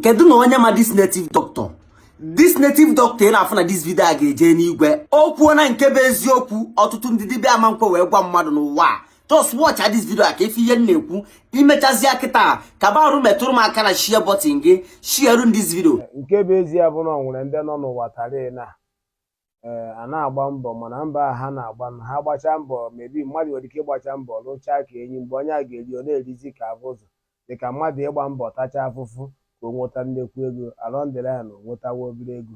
kedu na onye ma this native doctor this native doctor ị na-afụ na this video a ga-eje n'igwe o kwuona nke bụ eziokwu ọtụtụ ndị dibịa ama nkwe wee gwa mmadụ n'ụwa a just watch this video a ka ị fụ ihe m na-ekwu i mechazia kịta ka barụ metụrụ m aka na share button gị share this video nke bụ ezie bụ na ọ nwere ndị nọ n'ụwa tarị na ee a na-agba mbọ mana mbọ a ha na-agba na ha gbachaa mbọ maybe mmadụ nwere ike ịgbacha mbọ rụchaa ka enyi mgbe onye a ga-eri ọ na-erizi ka abụzụ dịka mmadụ ịgba mbọ tacha afụfụ ka o nweta nnekwu ego along the line o nwetawa obere ego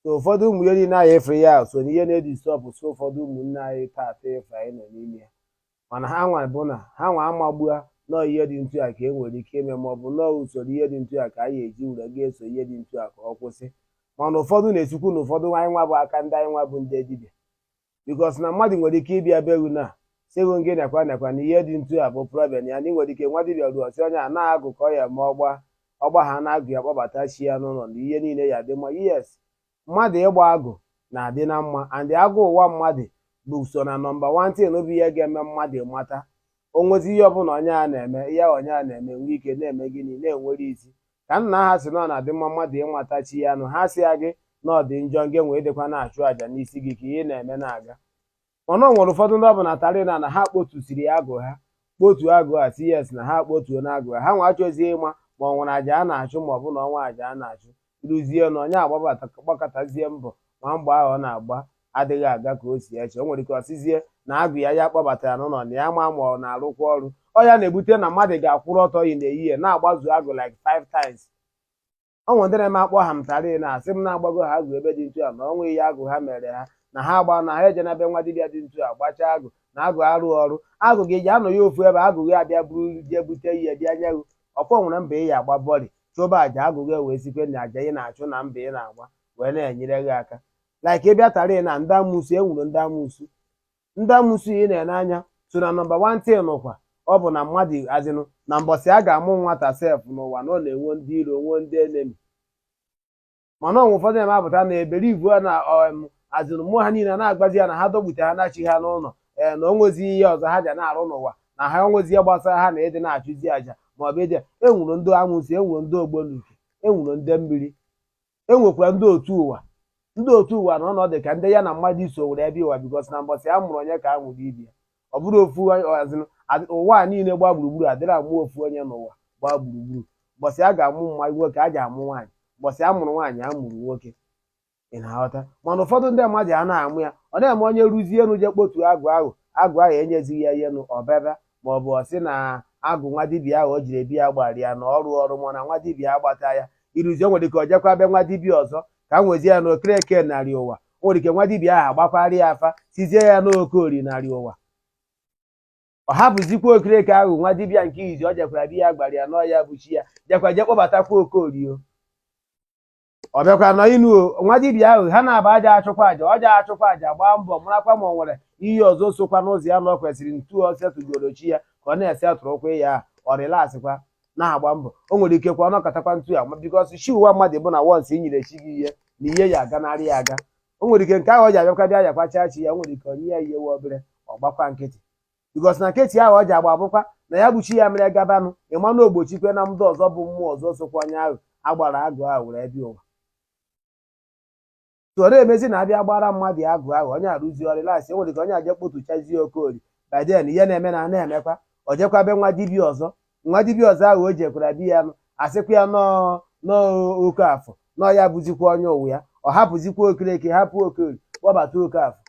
so ụfọdụ ụmụ ihe niile anyị efere ya so na ihe na-edisturb so ụfọdụ ụmụnne anyị taata efe anyị nọ n'ime ya mana ha nwa bụ na ha nwa amagbua na ọ ihe dị ntu a ka e nwere ike ime maọbụ na ọ usoro ihe dị ntu a ka anyị eji were ga-eso ihe dị ntu a ka ọ kwụsị mana ụfọdụ na-esikwu na ụfọdụ anyị nwa bụ aka ndị anyị nwa bụ ndị dibịa because na mmadụ nwere ike ịbịa be gị na-asị gị nekwa nekwa na ihe dị ntu a bụ problem ya na ị nwere ike nwa dibịa ruo ọ sị onye a na agụ ka ọ ya ma ọgba ọgba ha na agụ ya kpọbata chi ya n'ụlọ na ihe niile ya dị mma yes mmadụ ịgba agụ na-adị na mma and agụ ụwa mmadụ bụ so na number one thing bụ ihe ga-eme mmadụ mata o nwezi ihe ọbụla onye a na-eme ihe onye a na-eme nwee ike na-eme gịnị na-enwere isi ka nna ha si na ọ na-adị mma mmadụ ịmata chi ya n'ụwa asịghị na ọ dị njọ nge nwee dịkwa na-achụ àjà n'isi gị ka ihe ị na-eme na-aga mana ọ nwere ụfọdụ ndị ọ bụ na tarị na na ha kpotusiri ya agụ ha kpotu agụ a si yes na ha kpotuo na agụ ha ha nwa achọzie ịma ma ọ nwere aja a na-achụ ma ọ bụ na o nwere aja a na-achụ ruzie na onye a gbabata gbakatazie mbọ ma mbọ ahụ ọ na-agba adịghị aga ka o si eche o nwere ike ọ sịzie na agụ ya ya kpọbatara n'ụlọ na ya ama ma ọ na-arụkwa ọrụ ọ ya na-ebute na mmadụ ga-akwụrụ ọtọ yi na-eyi ya na-agbazu agụ like five times ọ nwere ndị na-eme akpọ ha mtara na-asị m na a gbago ha agụ ebe dị ntu a mana o nweghị ihe agụ ha mere ha na ha agba na ha eje na be nwa dibịa dị ntu a gbachaa agụ na agụ arụ ọrụ agụ gị ja-anọ ya ofu ebe agụ gị abịa buru jee bute ihe bịa nye gị ọ ka nwere mbọ ị ya-agba bọlị chụba aja agụ gị wee sikwa na aja ị na-achụ na mbọ ị na-agba wee na-enyere gị aka like ị bịa tara na ndị amụsu e nwere ndị amụsu ndị amụsu ị na-ene anya so na number one thing n'ụkwa ọ bụ na mmadụ as in na mbọsị a ga-amụ nwata sef n'ụwa na ọ na-enwe ndị iro nwee ndị enemy mana o nwere ụfọdụ na-apụta na eberivu a na as in mmụọ ha niile na-agbazi ya na ha dọgbute ha na-achị ha n'ụlọ ee eh, na o nwezi ihe ọzọ ha ji na-arụ n'ụwa na ha o nwezi ihe gbasara ha na ịdị na-achụzi aja maọbụ ịdị e nwere ndị amụsu e nwere ndị ọgbọnuke e nwere ndị mmiri e nwekwara ndị otu ụwa ndị otu ụwa na ọ na-adị ka ndị ya na mmadụ so were bịa ụwa because na mbọsị a mụrụ onye ka a mụrụ ibe ya ọ bụrọ ofu as in ụwa a niile gbaa gburugburu adịrọ amụ ofu onye n'ụwa gbaa gburugburu mbọsị a ga-amụ nwoke a ga-amụ nwaanyị mbọsị a mụrụ nwaanyị a mụrụ nwoke ị na-aghọta mana ụfọdụ ndị mmadụ a na-amụ ya ọ na-eme onye ruzie enu je kpotu agụ ahụ agụ ahụ enyezighị ya ihe nụ ọbebe maọbụ ọ sị na agụ nwa dibịa ahụ o jere bi ya gbara ya na ọrụ ọrụ ma na nwa dibịa agbata ya iruzie o nwere ike ọ jekwa be nwa dibịa ọzọ ka m nwezie ya na okereke narị ụwa o nwere ike nwa dibịa ahụ agbakwara ya afa sịzie ya n'oke orie narị ụwa ọ hapụzikwa okereke ahụ nwa dibịa nke izizi ọ jekwara bi ya gbara ya n'ọ ya bụ chi ya jekwa je kpọbatakwa okorie ọ bịakwa n'ụnọ nwa dibịa ahụ ha na-aba aja achụkwa aja ọ ja-achụkwa aja gbaa mbọ marakwa ma ọ nwere ihe ọzọ sokwa n'ụzọ ya na ọ kwesịrị ntu ọ setụgoro chi ya ka ọ na-ese atụrụkwa ya ahụ ọ relaxkwa na-agba mbọ o nwere ike kwa ọ nọkọtakwa ntu ya ma because chi ụwa mmadụ bụ na once i nyere chi gị ihe na ihe ya aganarị ya aga o nwere ike nke ahụ ọ ji abịakwa bịa yakwacha chi ya o nwere ike o nye ya ihe wa obere ọ gbakwa nkịtị because na kechi ahụ ọ ji agba bụkwa na ya bụ chi ya mere gabanụ ịmanụ ogbochikwe na mmadụ ọzọ bụ mmụọ ọzọ sokwa onye ahụ a gbara agụ ahụ were bịa ụwa tụọrọ emezi na a bịa gbara mmadụ ya agụ ahụ onye arụzi ọ relax o nwere ike onye a je kpọtuchazie okori by then ihe na-eme na na-emekwa o jekwa be nwa dibia ọzọ nwa dibia ọzọ ahụ o jekwara bi ya nụ asịkwa ya n'ọọ n'ọọ oke afọ n'ọọ ya bụzikwa onye ụwa ya ọ hapụzikwa okereke hapụ okori kpọbata oke afọ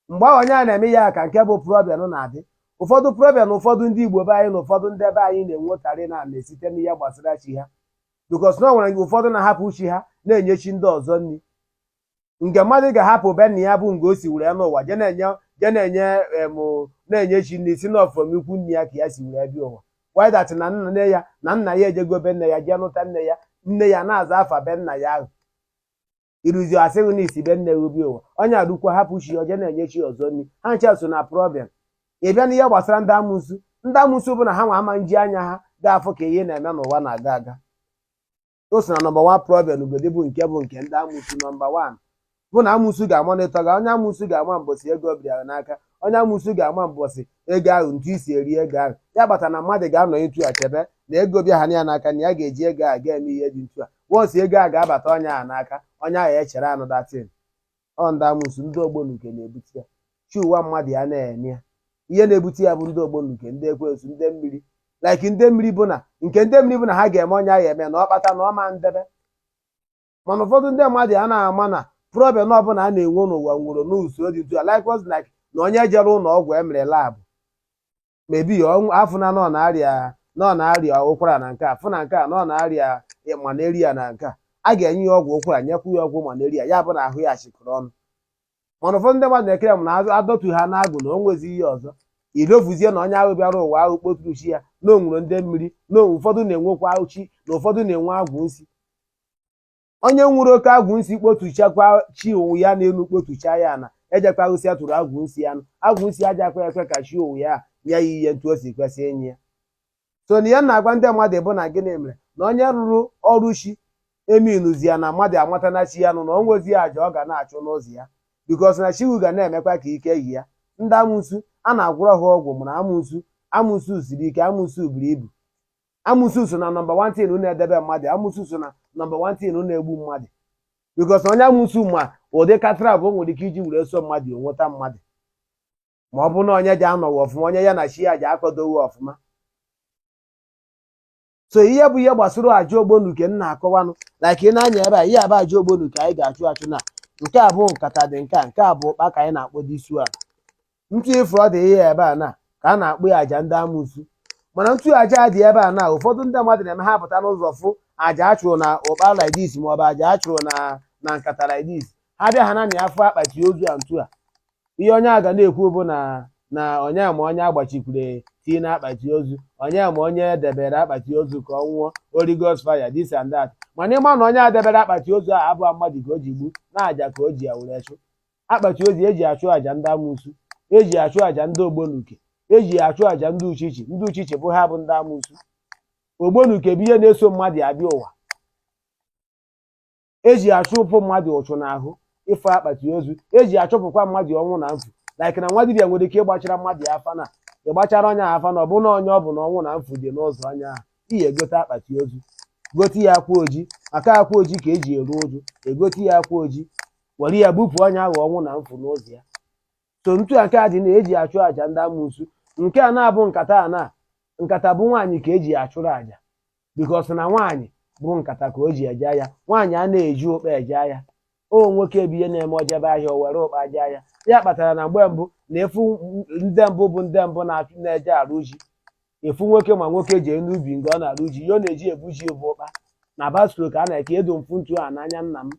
mgbe ahụ onye a na-eme ya ka nke bụ problem na-adị ụfọdụ problem ụfọdụ ndị Igbo be anyị na ụfọdụ ndị be anyị na-enwekarị na na-esite n'ihe gbasara chi ha because na ọ nwere ụfọdụ na-ahapụ chi ha na-enye chi ndị ọzọ nri nke mmadụ ga-ahapụ be nna ya bụ nga o si were nọ ụwa je na-enye je na-enye em na-enye chi nri sị n'ọ from ikwu nne ya ka ya si were bịa ụwa without na nne ya na nna ya ejego be nne ya jee nụta nne ya nne ya na-aza afa be nna ya ahụ iruzi a sị gị na i si be nne gị bịa ụwa onye ahụkwa hapụ chi ya je na-enye chi ọzọ nri ha ncha so na problem ị bịa n'ihe gbasara ndị amụsụ ndị amụsụ bụ na ha nwa ama nji anya ha ga-afụ ka ihe na-eme n'ụwa na-aga aga o so na number one problem ugodi bụ nke bụ nke ndị amụsụ number one bụ na amụsụ ga-amonitor gị onye amụsụ ga-ama mbọsị ego bịara n'aka onye amụsụ ga-ama mbọsị ego ahụ ntu i si eri ego ahụ ya kpata na mmadụ ga-anọ etu a chebe na ego bịaha ya n'aka na ya ga-eji ego a ga-eme ihe dị ntu a mbọsị ego a ga-abata onye ahụ n'aka onye ahụ echere anụ that thing ọ ndị amụsụ ndị ogbonuke na-ebute ya chi ụwa mmadụ ya na-eme ya ihe na-ebute ya bụ ndị ogbonuke ndị ekwensu ndị mmiri like ndị mmiri bụ na nke ndị mmiri bụ na ha ga-eme onye ahụ eme na ọ kpata na ọ ma ndebe mana ụfọdụ ndị mmadụ a na-ama na problem ọbụla a na-enwe n'ụwa nwere n'usoro dị ntu likewise like na onye jere ụlọ ọgwụ e mere lab maybe a fụ na n'ọ na-arịa n'ọ na-arịa ụkwara na nke a fụ na nke a n'ọ na-arịa malaria na nke a a ga-enye ya ọgwụ ụkwara nyekwu ya ọgwụ malaria ya bụ na ahụ ya chịkọrọ ọnụ mana ụfọdụ ndị mmadụ na-echere m na a dọtu ha n'agụ na o nwezi ihe ọzọ idofuzie na onye ahụ bịara ụwa ahụ kpọturu chi ya na o nwere ndị mmiri na ụfọdụ na-enwekwa uchu na ụfọdụ na-enwe agwụ nsị onye nwere oke agwụ nsi kpotuchakwa chi ụwa ya n'elu kpotucha ya na ejekwaghịsị ya tụrụ agwụ nsi anụ agwụ nsi ajakwa ekwe ka chi ụwa ya nye ya ihe ntu o si kwesị inye ya so na ihe m na-agwa ndị mmadụ bụ na gịnị mere na onye rụrụ ọrụ chi eminuzi ya na mmadụ amata na chi ya nụ na o nwezi ya aja ọ ga na-achụ n'ụzọ ya because na chi ahụ ga na-emekwa ka ike yi ya ndị amụsu a na-agwọrọ ha ọgwụ mụrụ amụsu amụsu siri ike amụsu buru ibu amụsu so na number one thing na-edebe mmadụ amụsu so na number one thing na-egbu mmadụ because onye amụsu ma ụdị katara bụ nwere ike iji were so mmadụ o nweta mmadụ ma ọ bụ na onye ji anọghị ọfụma onye ya na chi ya ji akọdoghị ọfụma so ihe a bụ ihe gbasara aja ogbonuke m na-akọwanụ like ị nee anya ebe a ihe a bụ aja ogbonuke anyị ga-achụ achụ na nke a bụ nkata dị nke a nke a bụ ụkpa ka anyị na-akpọ this one ntu ị fụ ụdị ihe ebe a na ka a na-akpọ ya aja ndị amụsu mana ntu aja a dị ebe a na ụfọdụ ndị mmadụ na-eme ha pụta n'ụzọ fụ aja a chụrụ na ụkpa like this ma ọ bụ aja a chụrụ na na nkata like this ha bịa ha ana-afụ akpati ozu a ntu a ihe onye a ga na-ekwu bụ na na onye ma onye agbachikwure key na akpati ozu onye ma onye debere akpati ozu ka ọ nwụọ Holy Ghost fire this and that mana ị ma na onye a debere akpati ozu a abụrọ mmadụ ka o ji gbu na aja ka o ji ya were chụ akpati ozu eji achụ àjà ndị amụsu eji achụ àjà ndị ogbonuke eji achụ àjà ndị uchichi ndị uchichi bụ ha bụ ndị amụsu ogbonuke bụ ihe na-eso mmadụ abịa ụwa eji achụpụ mmadụ uchu n'ahụ ị fụ akpati ozu eji achụpụkwa mmadụ ọnwụ na mfu like na nwa dibịa nwere ike ịgbachara mmadụ ya afa na ịgbachara onye ahụ afa na ọ bụ na onye ọ bụ na ọnwụ na mfu dị n'ụzọ onye ahụ i jee gote akpati ozu gote ya akwa oji maka akwa oji ka eji eru uju e gote ya akwa oji were ya bupụ onye ahụ ọnwụ na mfu n'ụzọ ya so ntu a nke a dị na eji achụ àjà ndị amụsu nke a na-abụ nkata a na nkata bụ nwaanyị ka eji achụrụ àjà because na nwaanyị bụ nkata ka o ji eje ahịa nwaanyị a na-eji ụkpa eje ahịa ọ nwoke bụ ihe na-eme o jebe ahịa o were ụkpa jee ahịa ya kpatara na mgbe mbụ na ị fụ ndị mbụ bụ ndị mbụ na-achụ na-eje arụ ji ị fụ nwoke ma nwoke jee n'ubi nke ọ na-arụ ji ihe ọ na-eji ebu ji bụ ụkpa na bicycle ka a na-ekedo m fụ ntu a n'anya nna m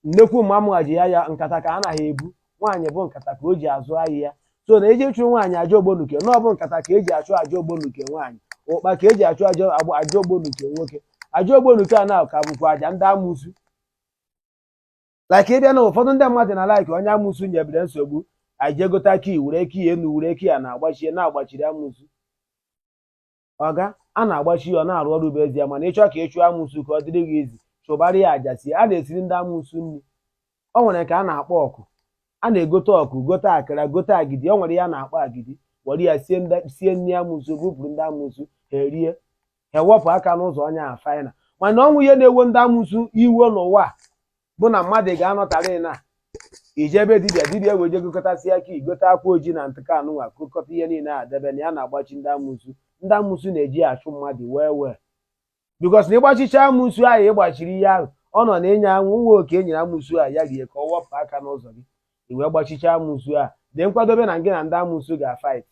nnekwu mma mụnwa ji ya ya nkata ka a naghị ebu nwaanyị bụ nkata ka o ji azụ ahịa ya so na eji achụrụ nwaanyị aja ogbonuke na ọ bụ nkata ka eji achụ aja ogbonuke nwaanyị ụkpa ka eji achụ aja agba- aja ogbonuke nwoke aja ogbonuke a na ka bụkwa aja ndị amụsu like ị bịa na ụfọdụ ndị mmadụ na like onye amụsu nyebere nsogbu anyị jee gota key were key enu were key a na-agbachie na-agbachiri amụsu ọga a na-agbachi ya ọ na-arụ ọrụ bụ ezie mana ịchọ ka ịchụ amụsụ ka ọ dịrị gị easy chụbara ya aja sie a na-esiri ndị amụsụ nri o nwere nke a na-akpọ ọkụ a na-egote ọkụ gote akara gote agidi o nwere ihe a na-akpọ agidi were ya sie ndị sie nri amụsụ bupụrụ ndị amụsụ ha erie ha ewepụ aka n'ụzọ onye ahụ final mana o nwere ihe na-ewe ndị amụsụ iwe n'ụwa a bụ na mmadụ ga-anọtarị na i je be dibịa dibịa wee je gụkọtasịa ka i gote akwa ojii na ntụka anụnwa kụkọta ihe niile a debe na ya na-agbachi ndị amụsu ndị amụsu na-eji ya achụ mmadụ wee wee because na ịgbachicha amụsu ahụ ịgbachiri ihe ahụ ọ nọ na enye anwụ nwa oke enyere amụsu a ya rie ka ọ wepụ aka n'ụzọ gị i wee gbachicha amụsu a dee nkwadobe na gị na ndị amụsu ga-fight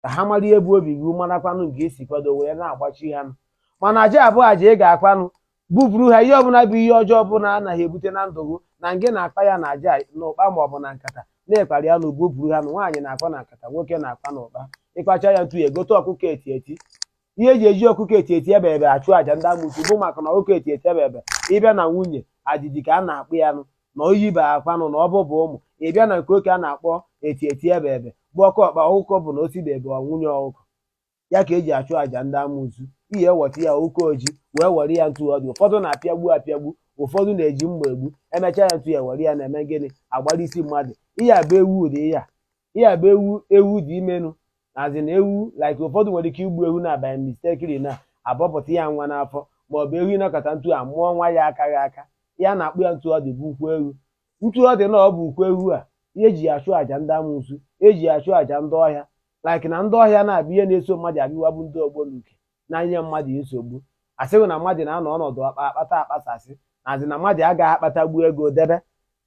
ka ha mara ihe bụ obi gị marakwanụ nke esi kwado wee na-agbachi ha nụ mana aja a bụ aja ị ga-akwanụ bupụrụ ha ihe ọbụla bụ ihe ọjọọ ọbụla anaghị ebute na ndụ gị na ngị na-akpa ya na aja n'ụkpa ma ọ bụ na nkata na-akpara ya nụ bupụrụ ha nụ nwaanyị na-akpa na nkata nwoke na-akpa na ụkpa ịkpacha ya ntu a egote ọkụkọ eti eti ihe e ji eji ọkụkọ eti eti ebe ebe achụ aja ndị amụsụ bụ maka na ọkụkọ eti eti ebe ebe ịbịa na nwunye adịdị ka a na-akpọ ya nụ na o yibeghị akwa nụ na ọ bụbeghị ụmụ ịbịa na nke oke a na-akpọ eti eti ebe ebe bụ oke ọkpa ọkụkọ bụ na osi bụ ebe ọ nwunye ọkụkọ ya ka eji achụ aja ndị amụsụ ihe eweta ya oke oji wee were ya ntu ọ dị ụfọdụ na-apịagbu apịagbu ụfọdụ na-eji mma egbu emechaa ya ntu a were ya na-eme gịnị agbara isi mmadụ ihe a bụ ewu ụdị ihe a ihe a bụ ewu ewu dị imenụ azị na ewu like ụfọdụ nwere ike igbu ewu na by mistakely na abọpụta ya nwa n'afọ ma ọ bụ ewu ịnọkata ntu a mụọ nwa ya akaghị aka ya na-akpọ ya ntu ọ dị bụ ukwu ewu ntu ọ dị na ọ bụ ukwu ewu a ihe eji ya achụ àjà ndị amụsụ eji ya achụ àjà ndị ọhịa like na ndị ọhịa na-abụ ihe na-eso mmadụ abịa ụwa bụ ndị ọgbọ n'uke na-enye mmadụ nsogbu asịghị na mmadụ na-anọ ọnọdụ akpa akpata akpasasị na azị na mmadụ agaghị akpatagbu ego debe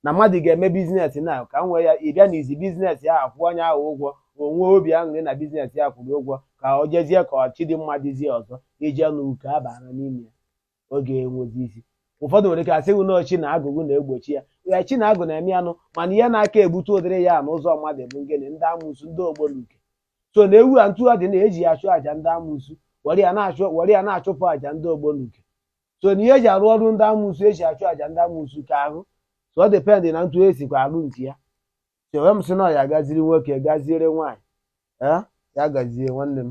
na mmadụ ga-eme business na ka m wee ya ịbịa na izi business ya akwụọ onye ahụ ụgwọ ka o nwee obi aṅụrị na business ya kwụrụ ụgwọ ka ọ jezie ka ọchị dị mma dịzie ọzọ ije n'uke abara n'ime ya ọ ga-enwezi isi ụfọdụ nwere ike asị gị na chi na agwụ na-egbochi ya ya chi na agwụ na-eme ya nụ mana ihe na-aka ebute ụdịrị ihe a na ụzọ mmadụ bụ gịnị ndị amụsụ ndị ọgbọ n'uke so na ewu a ntu a dị na-eji ya achụ àjà ndị amụsụ were ya na-achụ were ya na-achụpụ àjà ndị ọgbọ n'uke so na ihe eji arụ ọrụ ndị amụsụ eji achụ àjà ndị amụsụ ka ahụ so ọ depend na ntu esikwa arụ nke ya so wee m sị na ya gaziere nwoke gaziere nwaanyị ee ya gazie nwanne m